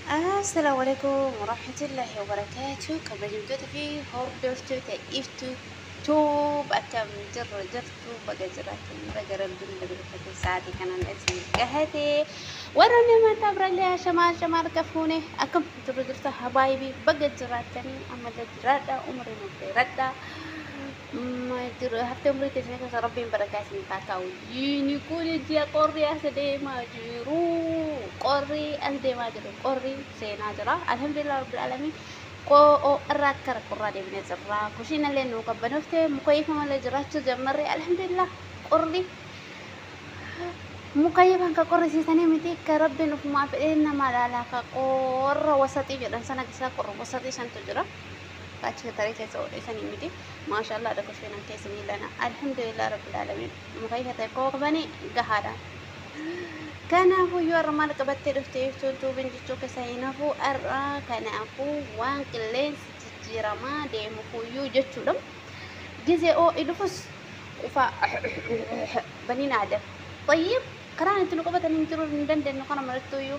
Assalamu alaikum warahmatullahi wabarakatuh kabajamtoota fi hordoftoota iftu tuub akkam jirru jirtu baga jiraatan baga rabbiin dabalfate sa'aatii kanaan isin gahate warra namoota birallee shamaa shamaa harka fuune akkam jirru jirtu habaayibii baga jiraatanii ammallee jiraadha umrii nuuf dheeradha Jira haftee umrii teessanii keessa rabbiin barakaa isiniif haa kaa'u. Jiini kun ji'a qorri as deemaa jiru. Qorri as deemaa jiru. Qorri seenaa jira. Alhamdulillah rabbil alamin. Qo'oo irraa akka rakkorraa deebinee jirra. Kushiin illee nuu qabbanoofte mukayyifama illee jiraachuu jammarre alhamdulillah qorri mukayyifan ka qorrisiisanii miti ka rabbiin ufumaa fedhee nama laalaa ka qorra wasaxii jedhan sana keessaa qorra wasaxii santu jira. achi tarii keessa oole sanii miti maashaallah adha kushee nan keessa ni lana alhamdulillah rabbil alamin mukai hata koo qabani gahaadha kanaafuu yoo arra maal qabattee dhufte jechuun tuubin jechuu keessa hin hafu arra kanaafuu waan qilleensi jijjiiramaa deemu kuyyuu jechuudha gizee oo idhufus ufa baniin aadam طيب karaan itti nu qabatan hin jiru hin dandeenyu kana marattuyyuu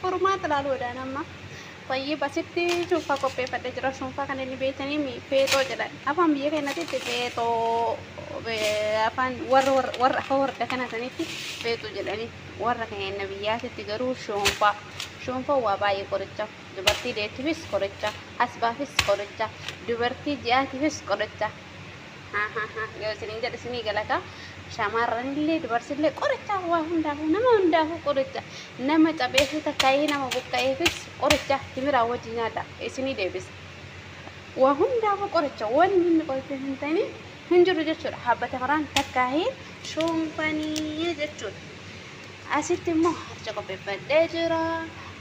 Furmaata laaluudhaan amma fayyib asitti cuunfaa qopheeffadhee jira. Cuunfaa kan inni beektanii mi feexoo jedhan. Afaan biyya keenyatti feexoo afaan warra warra afaan warda kana sanitti feexoo jedhanii warra keenya biyyaatitti garuu shoonfaa. Shoonfaa waa baay'ee qoricha. Dubartii deettiifis qoricha. Asbaafis qoricha. Dubartii ji'aatiifis qoricha. yoo isiniin jedhu isinii galata shamarranillee dubarsillee qoricha waa hundaafuu nama hundaafuu qoricha nama capheefuu takkaayee nama buqqa'eefis qoricha timiraa wajji nyaadha isinii deebisa waa hundaafuu qoricha waan inni qoricha hin ta'in hin jiru jechuudha habba tamiraan takkaayee shoonfanii jechuudha Asitti immoo harca qopheeffadhee jira.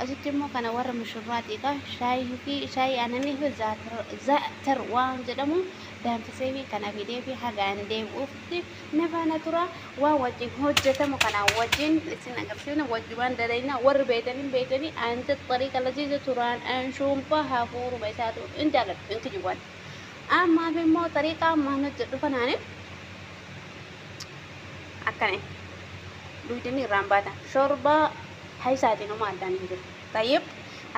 Asitti immoo kana warra mushurraatiidha. Shaayii fi shaayii aananii fi zaatar waan jedhamu danfisee fi kana fidee fi hagaan deebi'uutti na faana tura. Waan wajjin hojjetamu kana wajjin isin agarsiifna wajjumaan dalayna warri beeytanii beeytanii aanti xariiqa laziiza turaan anshuunfaa hafuuruma isaatu hin jaaladhu hin kijibwan. Ammaaf immoo xariiqaa maan hojjedhu kanaani akkana duydanii irraan baatan shorbaa haysaatiin homaa addaan hin jiru tayyib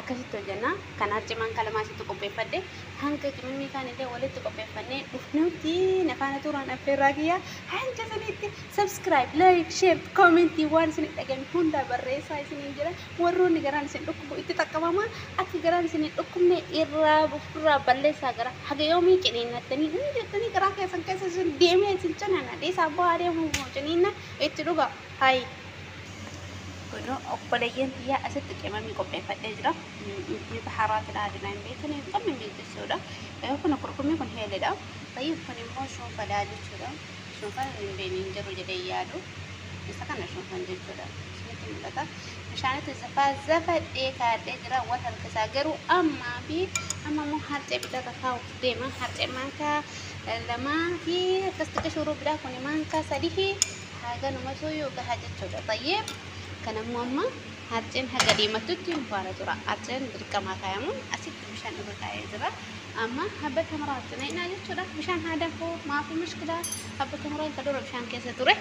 akkasitti hojjenna kan harcimaan kalamaa sitti qopheeffadhe hanga qimimii kaan illee walitti qopheeffannee dhufnutti nafaana tuuraan affeerraa kiyya hanga sanitti subscribe like share commentii waan isin dhageen hundaa barreessaa isiniin jira Warroonni garaan isin dhukkubu itti xaqqabamaa, akka garaan isin hin dhukkubne irraa gufurraa balleessaa gara. Haga yoomii ciniinnattanii hin jettanii garaa keessan keessa isin deemee isin ciniinna dhiisaa bu'aa deemuuf moo ciniinna itti dhugaa. Hay. Godoo obboleeyyan tiyyaa asitti qimamii qopheeffadhee jira. Inni baharaa filaa dinaa hin beekne hin qabne mijeessuudha. Kun kurkumii kun heelidha. Tayyib kun immoo shunfadha jechuudha. Shunfan hin beekne hin jiru jedhee yaadu isa kana shunfan jechuudha. Isinitti mul'ata. Bishaanitti zafaa zafadhee kaadhee jira wal harkisaa garuu ammaa fi amma immoo harcee bitarra kaa'uuf deema. Harcee maankaa lamaa fi akkas xiqqoo shuruu biraa kun maankaa sadii fi haganumatu yoo gahaa jechuudha. Tayyee kan ammoo amma harceen haga deemattutti nu faana tura. Harceen dirqamaa kaayamuun asitti. bishaan irra taa'ee jira. Amma habba tamaraa cinaynaa jechuudha. Bishaan haa danfuu maafii mushkilaa habba tamaraa isa dura bishaan keessa ture.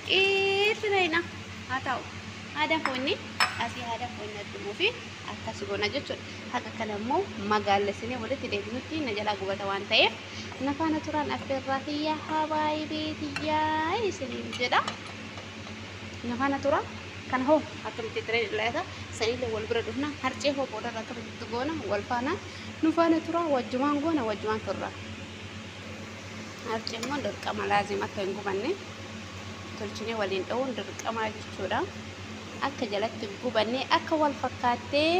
Qii cinaynaa haa taa'u. Haa danfuu inni asii haa danfuu inni addumuu fi akkas goona jechuudha. Haqa kana immoo magaallesinee walitti deebinutti na jalaa gubata waan ta'eef na faana turaan affeerraa tiyyaa habaayibee tiyyaa isiniin jedha. na faana tura kana hoo akkamitti tireen ilaalata sanillee wal bira dhufna harcee hoo booda irraa akkamitti goona wal faana nu faana tura wajjumaan goona wajjumaan turra harcee immoo dirqama laazim akka hin gubanne tolchinee waliin dha'uun dirqamaa jechuudha akka jalatti gubanne akka wal fakkaattee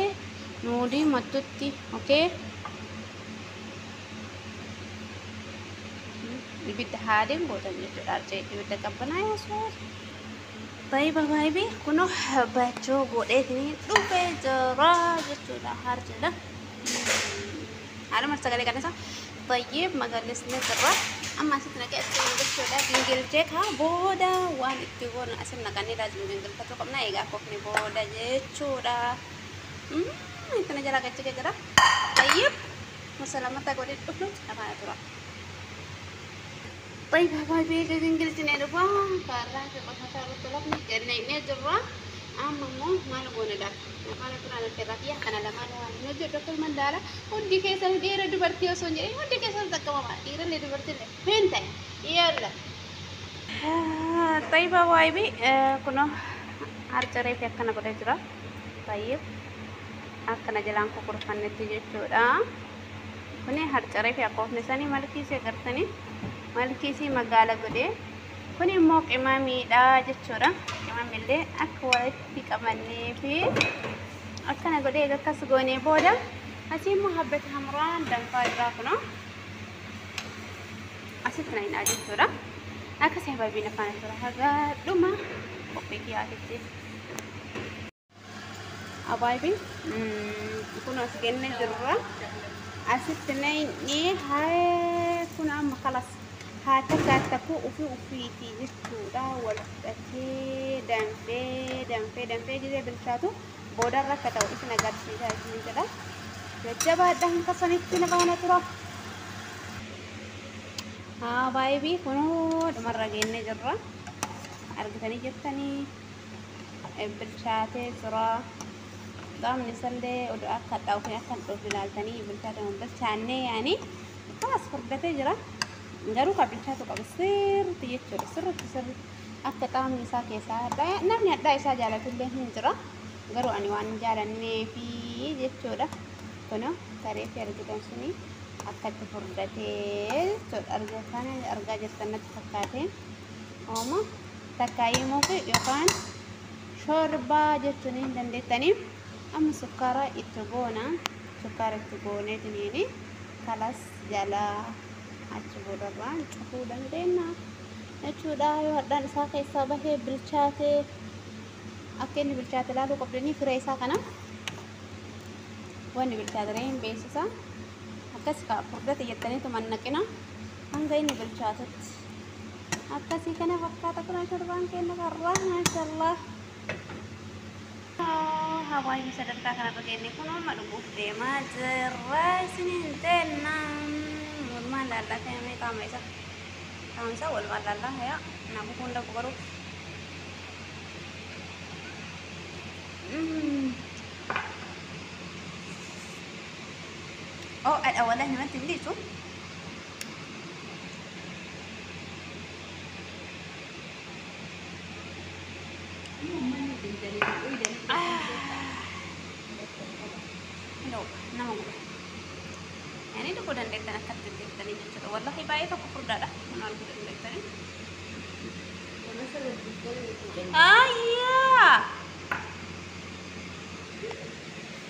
nuudii mattutti okay ibidda haadeen gootan jechuudha arcee ibidda qabbanaa yesuus baay'ee baay'ee kunoo baachoo godheetini dhufee jira jechuudha harjeedha haaluma sagalee qanasa baay'ee magaallisni jirra amma asitti naqee asitti jechuudha gingilchee kaa booda waan itti goonu asitti naqanii laajin gingilfachuu qabna egaa kofni booda jechuudha itti na jalaa gachuu jira baay'ee Musalamata godhe dhufu dhamaa dura. Bay bay bay bay egaa kan gilchinee dhufa. Kaarraa fi qofataa irratti lafni jennee jirra. Amma immoo maal goone laata? Afaan ofirraa nutti irraa biyya kana lamaan waan hin hojjedhu akka ilman daala. Hundi keessan dhiira dubartii osoo hin jedhin hundi keessan xaqqamama. Dhiirallee dubartiillee hin ta'e. Yalla. Tayyibaa waaybii kunoo harcaree fi akkana godhee jira. Tayyib. Akkana jalaan kukurfannetti jechuudha. Kuni harcaree fi akoofne sanii malkii isii agartanii malkii isii magaala godhee kuni immoo qimamiidha jechuudha. Qimamillee akka walitti qabannee fi akkana godhee egaa akkas goonee booda asii immoo habbati hamuraan danfaa irraa kunoo asitti na hidhaa jechuudha. Akkasii hababiin afaan tura hagaa dhuma qophii dhiyaatitti. abaayibi kun as genne jirra asitti nayni haa kun amma kalas haa tasaa takuu ufi ufiiti jechuudha wal fudhatee danfee danfee danfee gizee bilchaatu boodarra akka ta'u isin agarsiisaa isin jedha jajjabaadha hin kasanitti na baana tura abaayibi kunuu dhumarra geenne jirra argitanii jettanii bilchaatee jira. Qaamni isallee oduu akka hadhaa'u fi akka hin dhoofne ilaaltanii bilchaatee hin bilchaannee yaani baas furdatee jira. Garuu kan bilchaatu qabu sirriitti jechuudha. Sirriitti sirriitti akka qaamni isaa keessaa hadhaa'e namni hadhaa isaa jaalatullee hin jira. Garuu ani waan hin jaalannee fi jechuudha. Kunoo saree fi argitan suni akkatti furdatee jechuudha. Argaa jirtan natti fakkaatee. Ooma. takkaa imuuf yookaan shorbaa jechuun hin dandeettanii amma sukkaara itti goona sukkaara itti gooneetiniini kalas jalaa achi boodarraan cufuu dandeenya jechuudha yoo hadhaan isaa keessaa bahee bilchaatee akka inni bilchaate ilaaluu qabdanii firee isaa kana wanni bilchaatiree hin beeksisa akkas kaa furdate jettaniitu mannaqina hanga inni bilchaatutti akkasii kana fakkaata kun ashorbaan keenya karraa maashallah hawaasni sadarkaa kanarra geenye kun amma dhuguuf deemaa jirra isiniin jenna walumaan laallaa ta'ee qaama isa qaama isa walumaan laallaa hayaa naafuu hunda gubaruu Oh, ada wadah nanti beli tuh. No, nama guba. Ani tokko dandeettan akka dandeettanii jechuudha. Wallahi baay'ee tokko furdaadha. Nama arguu dandeettanii. Ayyaa!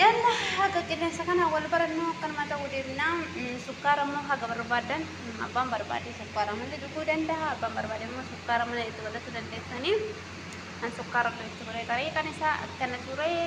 Yalla haga qilleensa kanaan wal barannu akkanuma ta'uu deemna. Sukkaara immoo haga barbaadan abbaan barbaade sukkaara malee dhuguu danda'a. Abbaan barbaade immoo sukkaara malee itti godhachuu dandeessanii. An sukkaara illee itti godhee tarii kan isaa akkana ture.